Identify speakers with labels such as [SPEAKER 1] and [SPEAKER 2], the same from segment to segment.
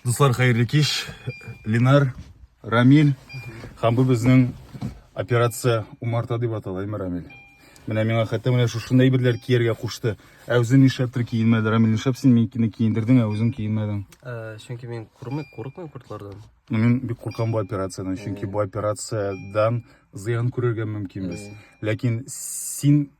[SPEAKER 1] Дуслар, хәерле кич. Ленар, Рамиль һәм бу безнең операция умарта дип атала, әйме Рамиль? Менә миңа хәтта менә шушындай берләр кияргә кушты. Ә үзен нишләптер киенмәде. Рамил, нишләп син минкине киендердең, ә үзен киенмәдең? Э, чөнки мин
[SPEAKER 2] курмык, курыкмыйм куртлардан. Ну, мин бик куркам
[SPEAKER 1] бу операциядән, чөнки бу операциядән зыян күрергә мөмкинбез. Ләкин син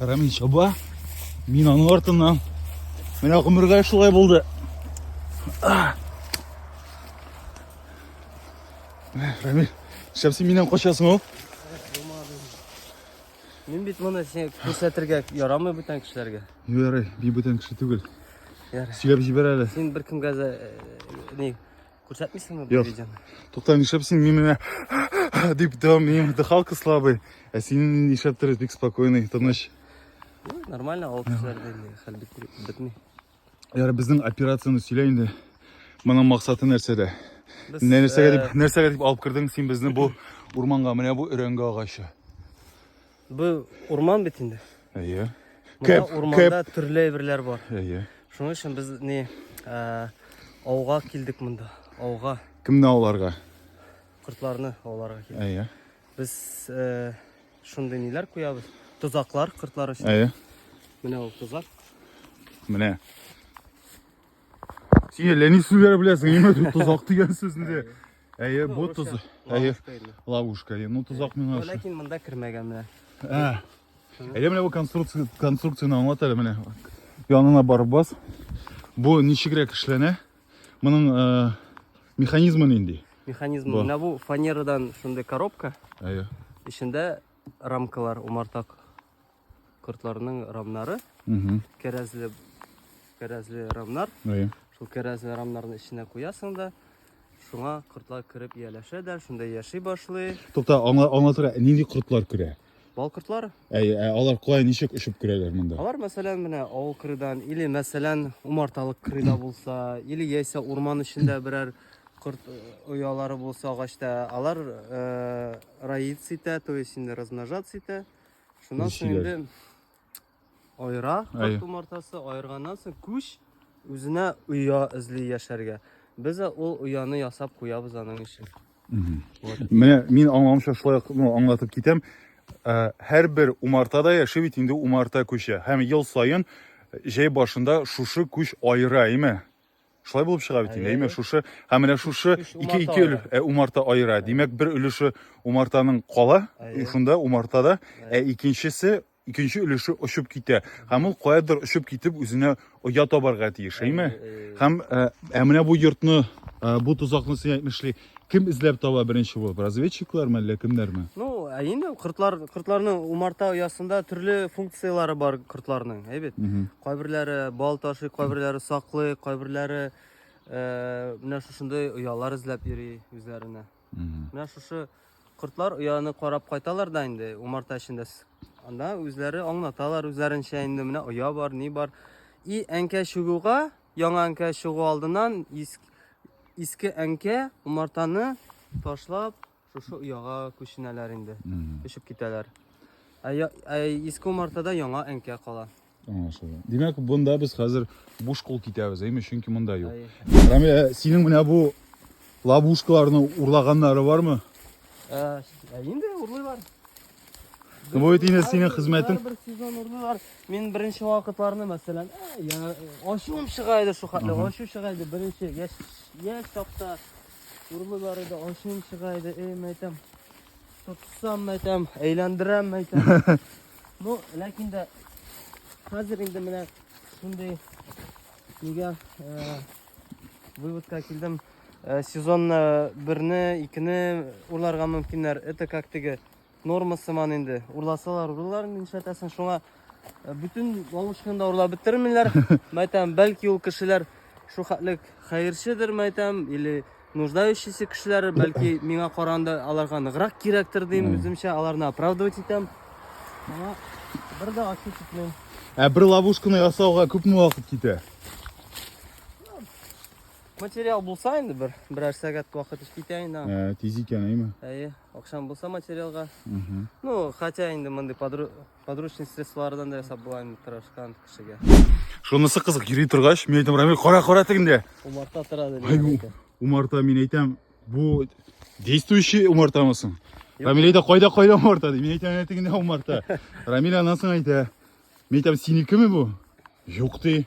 [SPEAKER 1] Рәмил чаба. Мин аның артыннан. Менә гомергә шулай булды. Рәмил, шәмси миннән качасың ул?
[SPEAKER 2] Мин бит моны сиңа күрсәтергә ярамый бүтән кешеләргә. Ярый, би бүтән
[SPEAKER 1] кеше түгел. Ярый. Сөйләп
[SPEAKER 2] җибәр әле. Син
[SPEAKER 1] бер кемгә дә
[SPEAKER 2] э, ни Күрсәтмисеңме бу видеоны?
[SPEAKER 1] Тукта,
[SPEAKER 2] нишләп син
[SPEAKER 1] мин менә дип дәвам минем дыхалка слабый. Ә син нишләптер бик спокойный, тыныч. Нормально, авыл кешеләрдә
[SPEAKER 2] хәл бетми. Яра
[SPEAKER 1] безнең операцияне сөйлә инде. Моның максаты нәрсәдә? Нәрсәгә дип, нәрсәгә дип алып кирдең син безне бу урманга? Менә бу өрәңгә агачы.
[SPEAKER 2] Бу урман бит инде. Әйе.
[SPEAKER 1] Кеп, урманда
[SPEAKER 2] кеп. төрле әйберләр бар. Әйе. Шуның өчен
[SPEAKER 1] без ни
[SPEAKER 2] ә, ауга килдек монда. Ауга. Кемне ауларга?
[SPEAKER 1] Кортларны
[SPEAKER 2] ауларга килдек. Әйе. Без ә, шундый ниләр куябыз. Тозаклар кортлар өчен. Әйе. Менә
[SPEAKER 1] ул тозак.
[SPEAKER 2] Менә.
[SPEAKER 1] Син әллә ни сүзләр беләсең, ниме тозак дигән сүзне. Әйе, бу туз. Әйе, ловушка. Әйе, ну тозак миңа. Ләкин монда кермәгән
[SPEAKER 2] менә. Ә.
[SPEAKER 1] Әйе, менә бу конструкция, конструкцияне аңлат әле менә. Янына барып бас. Бу ничегрәк эшләнә? Моның э, механизмы нинди? Механизм. Менә бу
[SPEAKER 2] фанерадан шундый коробка. Әйе.
[SPEAKER 1] Эчендә
[SPEAKER 2] рамкалар умартак. Кортларның рамнары, кәрәзле, кәрәзле рамнар.
[SPEAKER 1] Шул кәрәзле
[SPEAKER 2] рамнарны эченә куясың да, шуңа кортлар кереп ияләшә дә, шунда яши башлый. Тукта, аңлатырга,
[SPEAKER 1] нинди кортлар керә? Бал кортлар.
[SPEAKER 2] Ә, ә алар кая
[SPEAKER 1] ничек очып керәләр монда? Алар, мәсәлән, менә
[SPEAKER 2] авыл кырыдан, или, мәсәлән, умарталык кырыда булса, или яисә урман эчендә берәр корт э, оялары булса агачта, алар э, роиться итә, то есть инде размножаться итә. Шуннан соң Ничек инде аера Әйе. карт умартасы, аерганнан соң күч үзенә оя эзли яшәргә. Без дә ул ояны ясап куябыз аның өчен.
[SPEAKER 1] Менә мин аңламча шулай ук, ну, аңлатып китәм. Ә, Һәрбер умартада яши бит инде умарта күче. Һәм ел саен җәй башында шушы күч аера, әйме? Шулай булып чыга бит инде. Әйме, шушы һәм менә шушы ике ике өлеш ә, умарта аера. Димәк, бер өлеше умартаның кала, шунда умартада, ә икенчесе икенче өлеше очып китә. Һәм ул каядыр очып китеп үзенә оя табарга тиеш, әйме? Һәм ә, ә менә бу йортны, ә, бу тозакны син әйтмешли, Кем эзләп таба беренче булып? Разведчиклар ме, әллә кемнәр ме? Ну, ә инде
[SPEAKER 2] кортлар, кортларның умарта оясында төрле функцияләре бар кортларның, әйбәт. Кайберләре бал ташый, кайберләре саклый, кайберләре э, менә шушындый оялар эзләп йөри үзләренә. Менә шушы кортлар ояны карап кайталар да инде умарта эчендә. Анда үзләре аңлаталар үзләренчә инде менә оя бар, ни бар. И әнкә чугуга Яңа әнкә чыгу алдыннан иске әнкә умартаны ташлап шушы ояга күченәләр инде. Күчеп китәләр. Ә, ә иске умартада яңа әнкә кала. Аңлашылды. Димәк,
[SPEAKER 1] бунда без хәзер буш кул китәбез, әйме, чөнки монда юк. Рамил, ә синең менә бу лабушкаларны урлаганнары бармы? Ә, ә
[SPEAKER 2] инде урлыйлар.
[SPEAKER 1] Бу бит инде синең хезмәтең. Бер сезон урдылар.
[SPEAKER 2] Мин беренче вакытларны, мәсәлән, я ачуым чыга иде шул хәтле, ачу чыга иде беренче яшь яшь чакта. Урдылар иде, ачуым чыга иде, эй, мәйтәм. Тотсам, мәйтәм, әйләндерәм, мәйтәм. Ну, ләкин дә хәзер инде менә шундый нигә э, выводка килдем. Э, сезонна берне, икене урларга мөмкиннәр. Это как теге норма сыман инде. Урласалар, урлар нишләтәсең? Шуңа э, бөтен лавышны да урлап бетермиләр. Мәйтәм, бәлки ул кешеләр шу хәтлек хәерчедер, мәйтәм, или нуждающийся кешеләр, бәлки миңа каранда аларга ныграк кирәктер дим, үземчә аларны оправдывать итәм. Аңа бер дә ачу китмим. Ә бер ловушканы
[SPEAKER 1] ясауга күпме вакыт китә?
[SPEAKER 2] Материал булса инде бер, берәр сәгать вакыт эш китә инде. Ә, тиз икән, әйме?
[SPEAKER 1] Әйе, акшам булса
[SPEAKER 2] материалга. Угу. Ну, хотя инде мондый подру... подручный средстволардан да ясап була инде тырышкан кешегә. Шунысы кызык,
[SPEAKER 1] йөри торгач, мин әйтәм, Рамил, кара, кара тегендә. Умарта тора диде.
[SPEAKER 2] Ай, бу,
[SPEAKER 1] умарта,
[SPEAKER 2] мин әйтәм,
[SPEAKER 1] бу действующий умартамы соң? Рамил әйтә, кайда, кайда умарта, ди. Мин әйтәм, әнә тегендә умарта. Рамил аннан соң әйтә, мин әйтәм, синекеме бу? Юк, ди.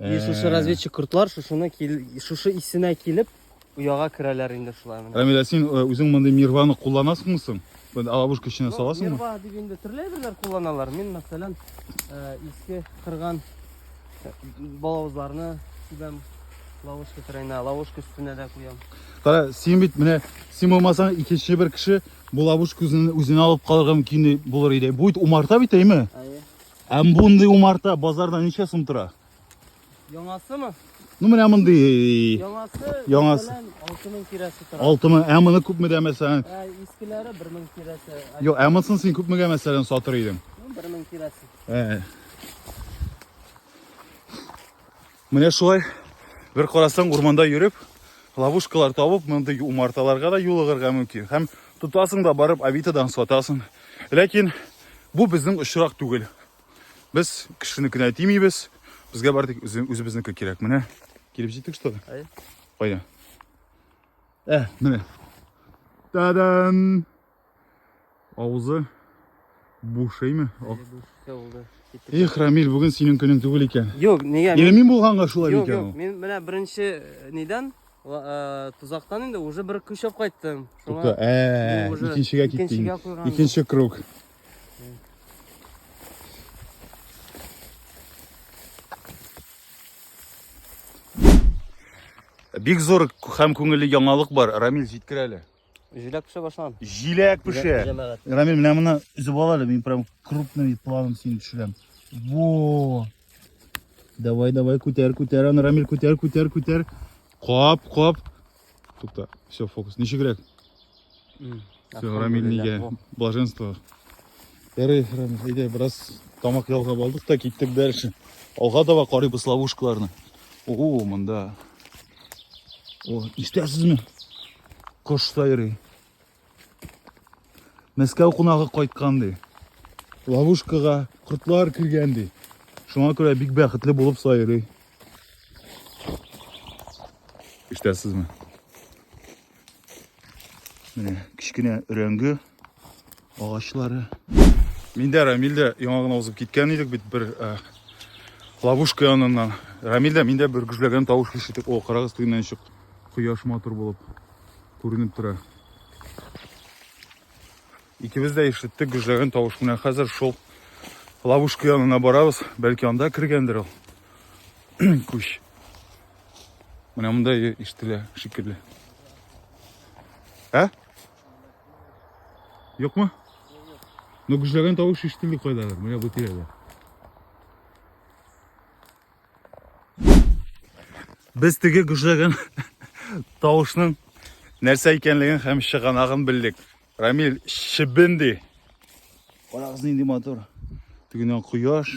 [SPEAKER 2] И шушы разведчик кортлар шушыны шушы исенә килеп ояга керәләр инде шулай менә. Рамилә, син үзең мондый
[SPEAKER 1] нирваны кулланасыңмы соң? Бен алабушка эченә саласыңмы? Нирва дип инде төрле
[SPEAKER 2] әйберләр кулланалар. Мин, мәсәлән, иске кырган балавызларны сибәм лавышка терәйнә, лавышка өстенә дә куям. Кара, син бит
[SPEAKER 1] менә син булмасаң икенче бер кеше бу лавышка үзен үзенә алып калырга мөмкин булыр иде. Бу бит умарта бит, әйме? Әйе. Ә
[SPEAKER 2] мондый
[SPEAKER 1] умарта базарда ничә сум тора? Яңасымы?
[SPEAKER 2] Ну менә
[SPEAKER 1] мондый Яңасы
[SPEAKER 2] Яңасы. белән 6000 тирәсе тора. 6000. Ә моны күпмедә
[SPEAKER 1] мәсәлән? Ә искеләре 1000
[SPEAKER 2] тирәсе. Ә Юк, ә монысын син
[SPEAKER 1] күпмегә мәсәлән сатыр идең? 1000 тирәсе.
[SPEAKER 2] Ә.
[SPEAKER 1] Менә шулай бер карасаң урманда йөреп, ловушкалар табып, мондый умарталарга да юлыгырга мөмкин. Һәм тотасың да барып Авитадан сатасың. Ләкин бу безнең очрак түгел. Без кешенекенә тимибез. Безгә бар тик үзебезнеке кирәк. Менә килеп җиттек что да. Кайда? Ә, менә. Та-дам! Авызы бушыймы? Эх, Рамиль, бүген синең көнең түгел икән. Юк, нигә? Нигә мин
[SPEAKER 2] булганга шулай
[SPEAKER 1] икән? Юк, юк, мин менә
[SPEAKER 2] беренче э, нидән э, тузактан инде уже бер көчәп кайттым. Тукта, ә,
[SPEAKER 1] икенчегә киттең. Икенче круг. Бик зур һәм күңелле яңалык бар. Рамиль, җиткер әле. Җиләк пешә
[SPEAKER 2] башлан. Җиләк пешә.
[SPEAKER 1] Җәмәгать. Рамил, менә моны өзеп ал әле, мин прям крупный планом сине төшерәм. Во! Давай, давай, күтәр, күтәр аны, Рамил, күтәр, күтәр, күтәр. Кап, кап. Тукта, все, фокус. Ничегрәк? Все, Рамил нигә блаженство. Ярый, Рамил, әйдә, бераз тамак ялгап алдык та киттек дальше. Алга таба карыйбыз ловушкаларны. О, монда О, ишетәсезме? Кош сайрый. Мәскәү кунагы кайткан ди. Ловушкага кортлар кергән ди. Шуңа күрә бик бәхетле булып сайрый. Ишетәсезме? Менә кечкенә өрәңге агачлары. Миндә Рамилдә яңа гына узып киткән идек бит бер э, ловушка яныннан. Рамилдә миндә бер гүжләгән тавыш ишетеп, о, карагыз туйнан чык. Кояш матур булып күренеп тора. Икебез дә ишеттек гүжләгән тавыш. Менә хәзер шул ловушка янына барабыз. Бәлки анда кергәндер ул. Күч. Менә монда ишетелә шикелле. Ә? Юкмы? Ну, гүжләгән тавыш ишетелде кайдадыр. Менә бу тирәдә. Без теге гүжләгән тавышның нәрсә икәнлеген һәм чыганагын белдек. Рамил, чебенди. Карагыз нинди мотор. Тегеннән кояш.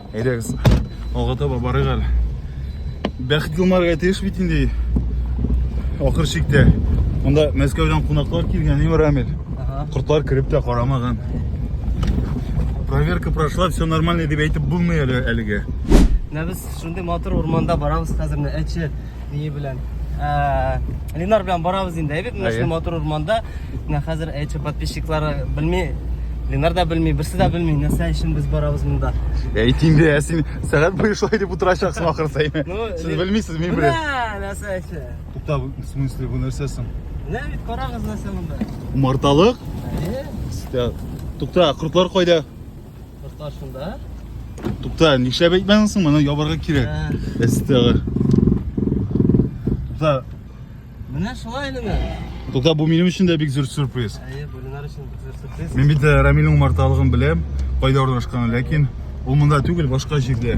[SPEAKER 1] Әйдәгез, алга таба барыйк әле. Бәхет елмарга тиеш бит инде. Ахыр чиктә. Монда Мәскәүдән кунаклар килгән, Ивар Амель. Кортлар кереп тә карамаган. Проверка прошла, все нормально дип әйтеп булмый әле әлегә.
[SPEAKER 2] Менә без шундый матур урманда барабыз хәзер, әче. Ние белән? Ә, Ленар белән барабыз инде, әйбәт менә шундый матур урманда. Менә хәзер әйтче подписчиклары белми, Ленар да белми, берсе дә белми, нәрсә өчен без барабыз монда. Әйтим дә, ә
[SPEAKER 1] син сәгать буе шулай дип утырачаксың ахырса. Ну, Сез Лен- белмисез, мин беләм. Менә нәрсә өчен.
[SPEAKER 2] Тукта, в смысле, бу нәрсә соң? Менә
[SPEAKER 1] бит карагыз нәрсә монда.
[SPEAKER 2] Умарталык?
[SPEAKER 1] Әйе. Тукта, кортлар кайда?
[SPEAKER 2] Тукта шунда.
[SPEAKER 1] Тукта, нишләп әйтмәдең соң, моны ябарга кирәк. Әстәгә. Тукта. Менә
[SPEAKER 2] шулай инде. Тукта, бу минем
[SPEAKER 1] өчен дә бик зур сюрприз. Әйе, бу Ленар өчен
[SPEAKER 2] бик зур сюрприз. Мин бит Рамилнең
[SPEAKER 1] умарталыгын беләм, кайда урнашканын, ләкин ул монда түгел, башка җирдә.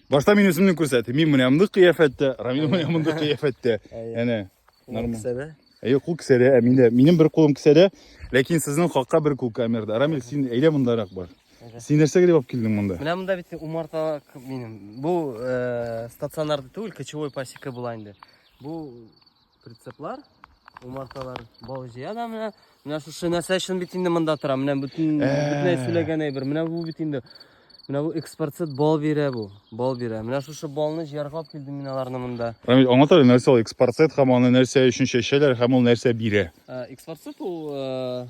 [SPEAKER 1] Башта мин үземне күрсәтим. Мин менә мондый кыяфәттә, Рамил менә мондый кыяфәттә. Әнә. Нормаль. Кесәдә. Әйе, кул кесәдә, ә миндә минем бер кулым кесәдә, ләкин сезнең хакка бер кул камерада. Рамил, син әйдә мондарак бар. Син нәрсәгә дип алып килдең монда? Менә монда бит умарта
[SPEAKER 2] минем. Бу э, стационарда түгел, кочевой пасека була инде. Бу Прицеплар, умарталар бау җыя да менә. Менә шушы нәрсә өчен бит инде монда тора. Менә бөтен бөтенләй сөйләгән әйбер. Менә бу бит инде. Менә бу экспорцит бал бирә бу. Бал бирә. Менә шушы балны җыярга алып килдем мин аларны монда. Рамил, аңлата әле, нәрсә
[SPEAKER 1] ул экспорцит һәм аны нәрсә өчен чәчәләр һәм ул нәрсә бирә? Экспорцит ул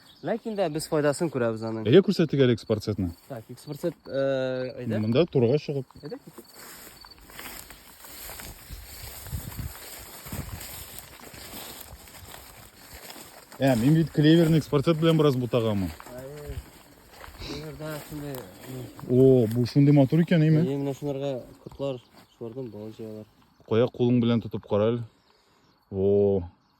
[SPEAKER 2] Ләкин дә без файдасын күрәбез аның. Әйдә күрсәтик әле экспорцетны.
[SPEAKER 1] Так, экспорцет
[SPEAKER 2] э, әйдә. Монда турга чыгып.
[SPEAKER 1] Әйдә. Ә, мин бит клеверный экспорцет белән бераз бутаганмын.
[SPEAKER 2] Клеверда шундый. О,
[SPEAKER 1] бу шундый матур икән, әйме? Әйе, менә шуларга
[SPEAKER 2] котлар, шулардан бал җыялар. Кая кулың белән
[SPEAKER 1] тотып кара әле. О,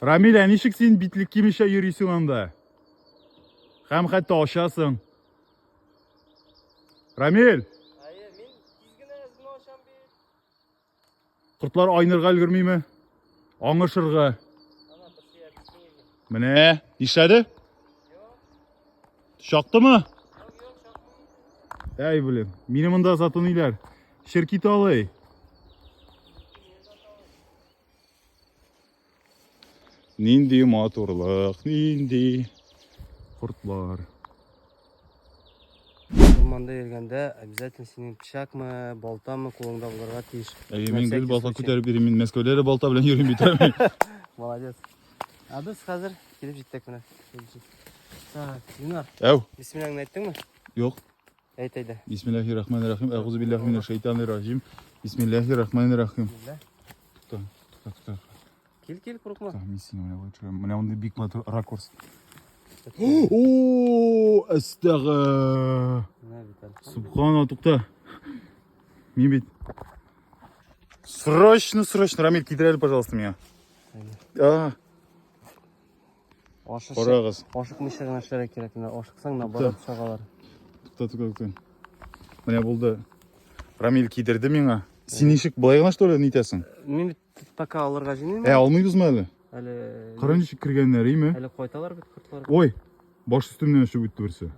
[SPEAKER 1] Рамилә, ничек син битлек кимешә йөрисең анда? Хәм хәтта ашасың. Рамил! Әйе, мин тиз
[SPEAKER 2] генә үземне ашам
[SPEAKER 1] бит. Кортлар айнырга өлгермиме? Аңышырга. Ана бер
[SPEAKER 2] киеме. Менә,
[SPEAKER 1] нишләде? Чактымы? Юк,
[SPEAKER 2] юк, чакмый. Әй, блин,
[SPEAKER 1] мине монда затыныйлар. Ширкит алый. Нинди матурлык, нинди кортлар.
[SPEAKER 2] Урманда йөргәндә обязательно синең пычакмы, балтамы кулыңда булырга тиеш. Әйе, мин гел балта
[SPEAKER 1] күтәреп йөрим, мин Мәскәүдә дә балта белән йөрим бит. Молодец.
[SPEAKER 2] А без хәзер килеп җиттек менә. Так, Динар. Әү. Бисмилләһеңне
[SPEAKER 1] әйттеңме?
[SPEAKER 2] Юк.
[SPEAKER 1] Әйт әйдә.
[SPEAKER 2] Бисмиллахи рахмани рахим.
[SPEAKER 1] Әгузу биллахи минәш шайтани рахим. Бисмиллахи рахмани рахим. Тукта, тукта, тукта. Кил, кил,
[SPEAKER 2] курыкма. Так, мин сине менә лучше.
[SPEAKER 1] Менә мондый бик матур ракурс. О, астага. Субхана, тукта. Мин бит. Срочно, срочно, Рамиль, китерәле, пожалуйста, меня. А. Карагыз. Ашыкмыйча гына эшләргә кирәк.
[SPEAKER 2] Менә ашыксаң, наоборот, чагалар.
[SPEAKER 1] Тукта, тукта, тукта. Менә булды. Рамил кидерде миңа. Син ничек былай гына что ли нитәсең? Мин бит пока
[SPEAKER 2] алырга җыймыйм. Ә алмыйбызмы әле?
[SPEAKER 1] Әле Кара
[SPEAKER 2] ничек кергәннәр,
[SPEAKER 1] име? Әле кайталар бит кортлар.
[SPEAKER 2] Ой, баш
[SPEAKER 1] өстемнән очып үтте берсе.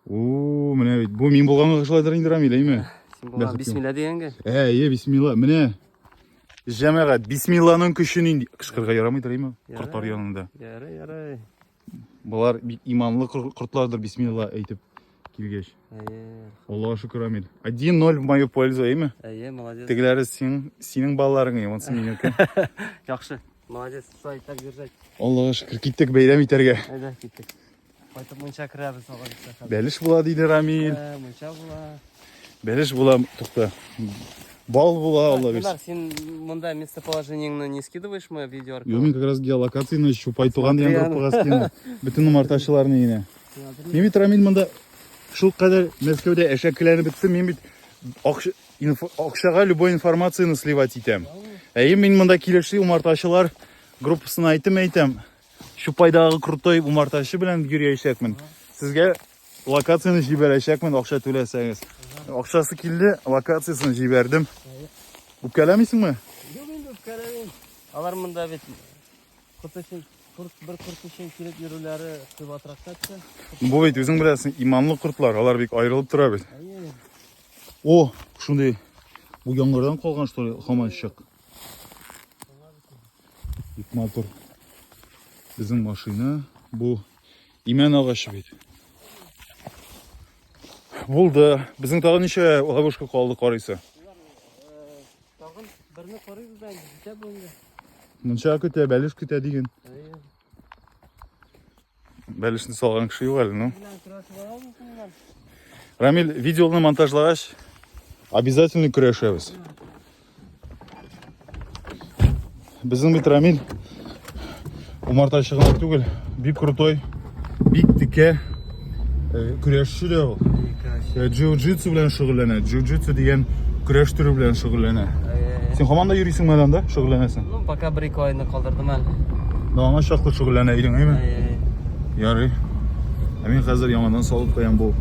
[SPEAKER 1] Уу, менә бит. Бу мин булганга шулайдыр инде Рамил, әйме? Син булган бисмилла
[SPEAKER 2] дигәнгә. Әйе, бисмилла. Менә
[SPEAKER 1] Җәмәгать, бисмилланың көче нинди? Кычкырга ярамыйдыр, әйме? Кортлар янында. Ярый,
[SPEAKER 2] ярый. Болар
[SPEAKER 1] бик иманлы кортлардыр, бисмилла әйтеп килгәч. Әйе.
[SPEAKER 2] Аллаһу шөкер, Амил.
[SPEAKER 1] 1-0 в мою пользу, әйме? Әйе, молодец. Тегеләре
[SPEAKER 2] син,
[SPEAKER 1] синең балаларың, әйме, онсы минеке. Яхшы.
[SPEAKER 2] Молодец, сай, так держать. Аллаһу шөкер, киттек
[SPEAKER 1] бәйрәм итәргә. Әйдә, киттек.
[SPEAKER 2] Кайтып мунча керәбез тагын исә хәзер. Бәлеш була диде Рамил.
[SPEAKER 1] Ә, Мунча була.
[SPEAKER 2] Бәлеш була,
[SPEAKER 1] тукта. Бал була, Алла бирсен. Кунар, син
[SPEAKER 2] монда местоположениеңне не скидываешь мы видео аркылы? Юмин как раз геолокацияны
[SPEAKER 1] чупай туган дигән Смотри, группага скинды. Бөтен умартачыларны генә. Мин бит Рамил монда шул кадәр Мәскәүдә әшәкеләнеп беттем. Мин бит акча- инфо- акчага любой информацияны сливать итәм. Әйе, мин монда килешли умартачылар группасына әйтем әйтәм. Чупайдагы крутой умартачы белән йөрәячәкмен. Сезгә локацияне җибәрәчәкмен, акча түләсәгез. Акчасы килде, локациясен җибәрдем. Үпкәләмисеңме? Юк инде
[SPEAKER 2] үпкәләмим. Алар монда бит кот өчен курт бер курт өчен килеп йөрүләре кыйбатрак тәтте. Бу бит үзең
[SPEAKER 1] беләсең, иманлы кортлар, алар бик аерылып тора бит.
[SPEAKER 2] О,
[SPEAKER 1] шундый бу яңгырдан калган что ли, хаманчык. Бик матур. Безнең машина бу имән агачы бит. Булды. Безнең тагын ничә ловушка калды карыйсы?
[SPEAKER 2] Тагын берне карыйбыз да инде, җитә бу инде. Мунча көтә,
[SPEAKER 1] бәлеш көтә диген. Бәлешне салган кеше юк әле, ну.
[SPEAKER 2] Рамил,
[SPEAKER 1] видеоны монтажлагач, обязательно көрәшәбез. Безнең бит Рамил умартачыгына түгел, бик крутой, бик текә э, көрәшче дә ул. Джиу-джитсу белән шөгыльләнә. Джиу-джитсу дигән көрәш төре белән шөгыльләнә. Син һаман да йөрисеңме әле анда? Шөгыльләнәсең? Ну, пока бер ике айны
[SPEAKER 2] калдырдым әле. Ну, аңа чаклы
[SPEAKER 1] шөгыльләнә идең, әйме?
[SPEAKER 2] Ярый.
[SPEAKER 1] Ә мин хәзер яңадан салып куям бу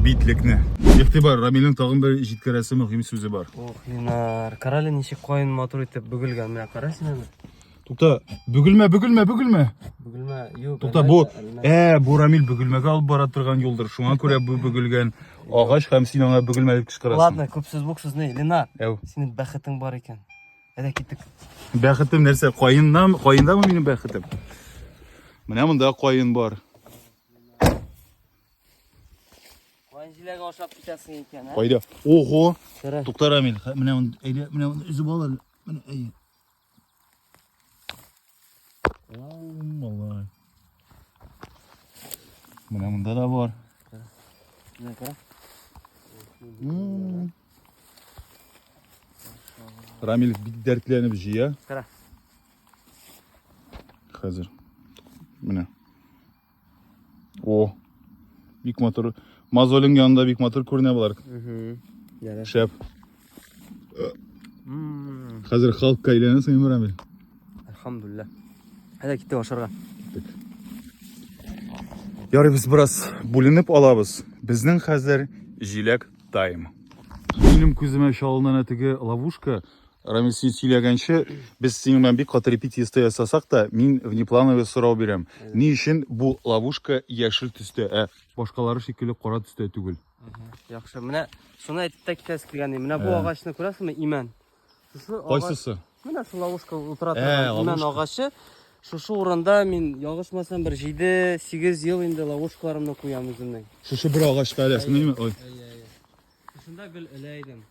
[SPEAKER 1] битлекне. Игътибар, Рамилнең тагын бер җиткерәсе мөһим сүзе бар. Ох, Ленар,
[SPEAKER 2] карале ничек кайын матур итеп бөгелгән. Менә кара син аны. Тукта,
[SPEAKER 1] бөгелмә, бөгелмә, бөгелмә.
[SPEAKER 2] Бөгелмә, юк. Тукта, бу
[SPEAKER 1] э, бу Рамил бөгелмәгә алып бара торган юлдыр. Шуңа күрә бу бөгелгән агач һәм син аңа бөгелмә дип кычкырасың. Ладно, күп сүз бук сүзне,
[SPEAKER 2] Ленар. Әу. Синең бәхетең
[SPEAKER 1] бар
[SPEAKER 2] икән. Әйдә киттек. Бәхетем нәрсә?
[SPEAKER 1] Каеннам, каендамы минем бәхетем? Менә монда каен бар.
[SPEAKER 2] Каен җиләге ашап китәсең икән, ә? Кайда? Ого!
[SPEAKER 1] Тукта Рамил,
[SPEAKER 2] менә
[SPEAKER 1] әйдә, менә үзеп ал әле. Менә әйе. Малай. Менә монда да бар.
[SPEAKER 2] Менә кара.
[SPEAKER 1] Рамил бик дәртләнеп җыя. Кара. Хәзер. Менә. О. Бик матур. Мозолин янында бик матур күренә болар. Яра.
[SPEAKER 2] Шәп.
[SPEAKER 1] Мм. Хәзер халыкка әйләнәсең, Әмир Рамил. Алхамдулилла.
[SPEAKER 2] Әйдә киттек ашарга.
[SPEAKER 1] Ярый без бераз бүленеп алабыз. Безнең хәзер җиләк тайм. Минем күземә чалынына теге ловушка Рамил, син сөйләгәнче, без синең белән бик каты репетиция ясасак та, мин внеплановый сорау бирәм. Ни өчен бу ловушка яшел төстә, ә башкалары шикелле кара төстә түгел? Яхшы, менә
[SPEAKER 2] шуны әйтеп тә китәсе килгән. Менә бу агачны күрәсезме, имән? Шушы агач, Кайсысы?
[SPEAKER 1] менә шул ловушка
[SPEAKER 2] утыра Ә, торган имән ловушка. агачы. Шушы урында мин ялгышмасам бер 7-8 ел инде ловушкаларымны куям үземнең. Шушы бер агачка
[SPEAKER 1] әләсеме? Ой. Шушында
[SPEAKER 2] гел элә идем.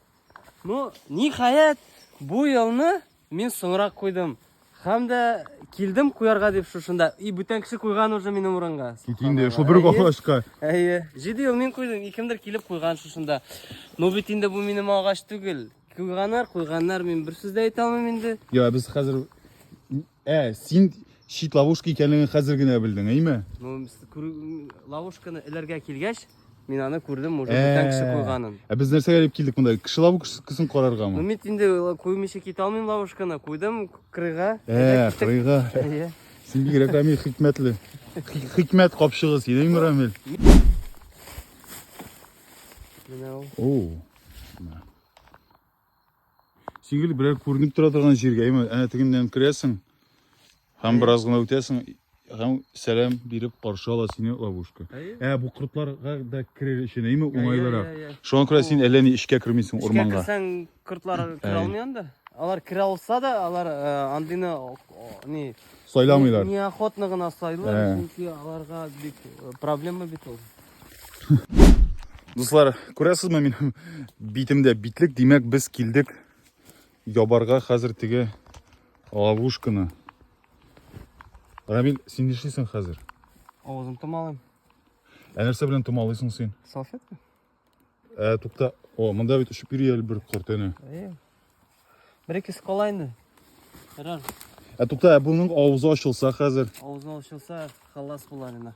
[SPEAKER 2] Ну, ниһаять, бу елны мин соңрак куйдым. Һәм дә килдем куярга дип шушында. И бүтән кеше куйган уже минем урынга. Тик инде шул бер
[SPEAKER 1] агачка. Әйе. 7
[SPEAKER 2] ел мин куйдым, кемдер килеп куйган шушында. Ну бит инде бу минем агач түгел. Куйганнар, куйганнар, мин бер сүз дә әйтә алмыйм инде. Я, без хәзер
[SPEAKER 1] Ә, син чит ловушка икәнлеген хәзер генә белдең, әйме? Ну,
[SPEAKER 2] ловушканы эләргә килгәч, мин аны күрдем, уже бүтән кеше куйганын. Ә без нәрсәгә дип килдек
[SPEAKER 1] монда? Кеше ловушкасын караргамы? Ну, мин инде
[SPEAKER 2] куймыйча китә алмыйм ловушканы, куйдым крыга. Ә, крыга.
[SPEAKER 1] Син
[SPEAKER 2] бигрәк Рамил
[SPEAKER 1] хикмәтле. Хикмәт капчыгы син, әйме, Рамил? Менә ул. О. Сигел берәр күренеп тора торган җиргә, әйме, әнә тегеннән керәсең һәм бераз гына үтәсең һәм сәлам биреп каршы ала сине ловушка. Ә бу кортларга да керер өчен, әйме, уңайлырак. Шуңа күрә син әллә ни эшкә кермисең урманга. Эшкә керсәң, кортлар
[SPEAKER 2] керә алмый анда. Алар керә алса да, алар э, андыйны ни сайламыйлар.
[SPEAKER 1] Неохотно гына
[SPEAKER 2] сайлый, чөнки аларга бик э, проблема бит ул. Дуслар,
[SPEAKER 1] күрәсезме минем битемдә битлек, димәк без килдек ябарга хәзер теге ловушканы. Рамил, син нишлисең хәзер? Авызым томалыйм.
[SPEAKER 2] Ә нәрсә
[SPEAKER 1] белән томалыйсың син? Салфетка.
[SPEAKER 2] Ә,
[SPEAKER 1] тукта. О, монда бит очып йөри әле бер корт әнә.
[SPEAKER 2] Бер ике скала инде. Ярар. Ә тукта, ә
[SPEAKER 1] буның авызы ачылса хәзер? Авызы ачылса,
[SPEAKER 2] халас булар инде.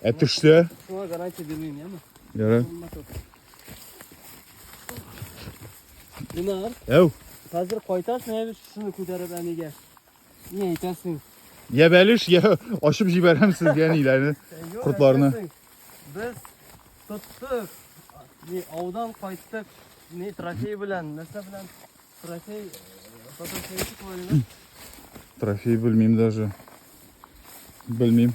[SPEAKER 2] Ә төшсә?
[SPEAKER 1] Шуңа гарантия
[SPEAKER 2] бирмим, яме? Ярар. Динар. Әу. Хәзер кайтасың, әбез шуны күтәреп әнигә. Ни әйтәсең? Я бәлеш,
[SPEAKER 1] я ашып җибәрәм сезгә ниләрне, кортларны. Без
[SPEAKER 2] тоттык. Ни аудан кайттык. Ни трофей белән, нәрсә белән? Трофей, фотосессия
[SPEAKER 1] э, Трофей белмим даже. Белмим.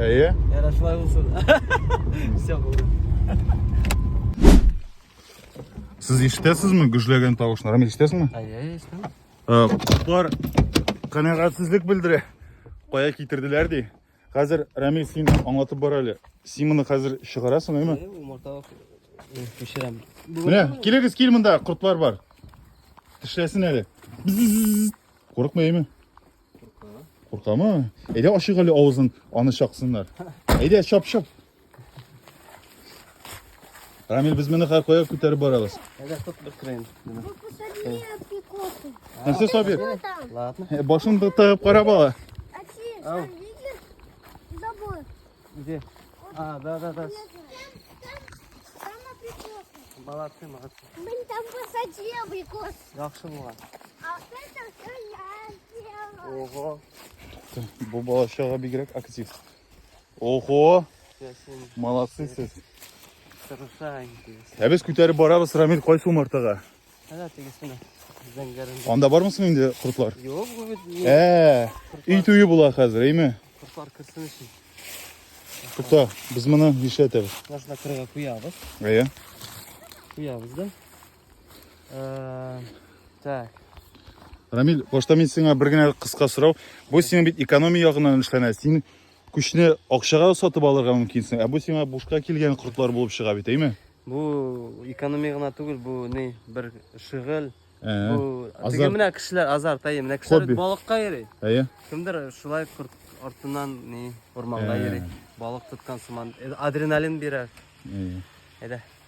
[SPEAKER 1] Әйе. Ярар,
[SPEAKER 2] шулай булсын. Все булды.
[SPEAKER 1] Сез ишетәсезме гөжләгән тавышлар? Рамил, ишетәсеңме? Әйе, ишетәм.
[SPEAKER 2] Э, Котлар
[SPEAKER 1] канәгатьсезлек белдерә. Кая китерделәр ди. Хәзер Рамил син аңлатып бар әле. Син моны хәзер чыгарасың, әйме? Әйе, умарта
[SPEAKER 2] пешерәм. Менә,
[SPEAKER 1] килегез, кил монда, кортлар бар. Тешләсен әле. Бзззз. Курыкма, әйме? Куркамы? Әйдә ачык әле авызын, аны чаксыннар. Әйдә, чап, чап. Рамил, без моны һәр кая күтәреп барабыз. Әйдә, тот бер крен.
[SPEAKER 3] Посади апикосы. Нәрсә сабир?
[SPEAKER 1] Ладно. Э,
[SPEAKER 2] башын тыгып
[SPEAKER 1] карап ала. Ау.
[SPEAKER 3] Забор. Где?
[SPEAKER 2] А, да, да, да. Там
[SPEAKER 3] апикосы. Молодцы, молодцы. Блин,
[SPEAKER 2] там
[SPEAKER 3] посади абрикосы. Яхшы булган. Ого.
[SPEAKER 2] Бу
[SPEAKER 1] бала чага бигрәк актив. Ого!
[SPEAKER 2] Молодцы сез. Ә без
[SPEAKER 1] күтәреп барабыз Рамил кайсы умартага? Әнә тегесенә.
[SPEAKER 2] Зәңгәрендә. Анда бармысың инде
[SPEAKER 1] кортлар? Юк, бу бит. Ә,
[SPEAKER 2] өй туе була
[SPEAKER 1] хәзер, әйме? Кортлар керсен өчен. Тукта, без моны нишләтәбез? Башына кырга куябыз.
[SPEAKER 2] Әйе.
[SPEAKER 1] Куябыз
[SPEAKER 2] да. Э, так.
[SPEAKER 1] Рамил, башта мин сиңа бер генә кыска сорау. Бу сиңа бит экономия ягыннан эшләнә. Син күчне акчага сатып алырга мөмкинсең, ә бу сиңа бушка килгән кортлар булып чыга бит, әйме? Бу
[SPEAKER 2] экономия гына түгел, бу ни бер шөгыль. Э, бу
[SPEAKER 1] теге менә
[SPEAKER 2] кешеләр
[SPEAKER 1] азарт,
[SPEAKER 2] әйе, менә кешеләр балыкка йөри.
[SPEAKER 1] Әйе.
[SPEAKER 2] Кемдер
[SPEAKER 1] шулай
[SPEAKER 2] корт артыннан ни урманга э. йөри. Балык
[SPEAKER 1] тоткан
[SPEAKER 2] сыман э, адреналин бирә. Әйе.
[SPEAKER 1] Әйдә.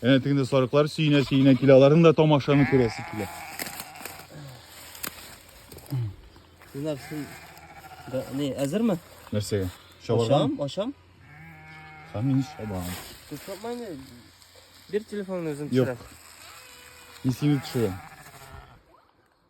[SPEAKER 2] Әнә
[SPEAKER 1] тегендә сарыклар сөенә-сөенә килә, аларның да тамашаны күрәсе килә.
[SPEAKER 2] Синар син да не әзерме? Нәрсәгә?
[SPEAKER 1] Чабарга? Ашам, ашам.
[SPEAKER 2] Һәм
[SPEAKER 1] мин чабам. Тотмаймы?
[SPEAKER 2] Бер телефонны үзем Юк. төшерәм. Мин
[SPEAKER 1] сине төшерәм.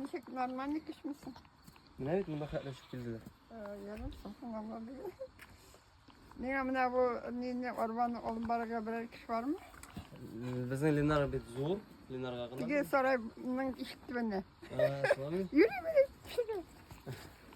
[SPEAKER 3] Ничек
[SPEAKER 4] нормальный кешмесең? Менә бит монда
[SPEAKER 2] хәтләшеп килделәр. Ярым соң
[SPEAKER 4] алла бирә. Нигә менә бу мине арбаны алып барырга берәр кеше бармы? Безнең
[SPEAKER 2] Ленар бит зур. Ленарга гына. Теге
[SPEAKER 4] сарайның ишек төбендә.
[SPEAKER 2] Йөри, йөри,
[SPEAKER 4] кешегә.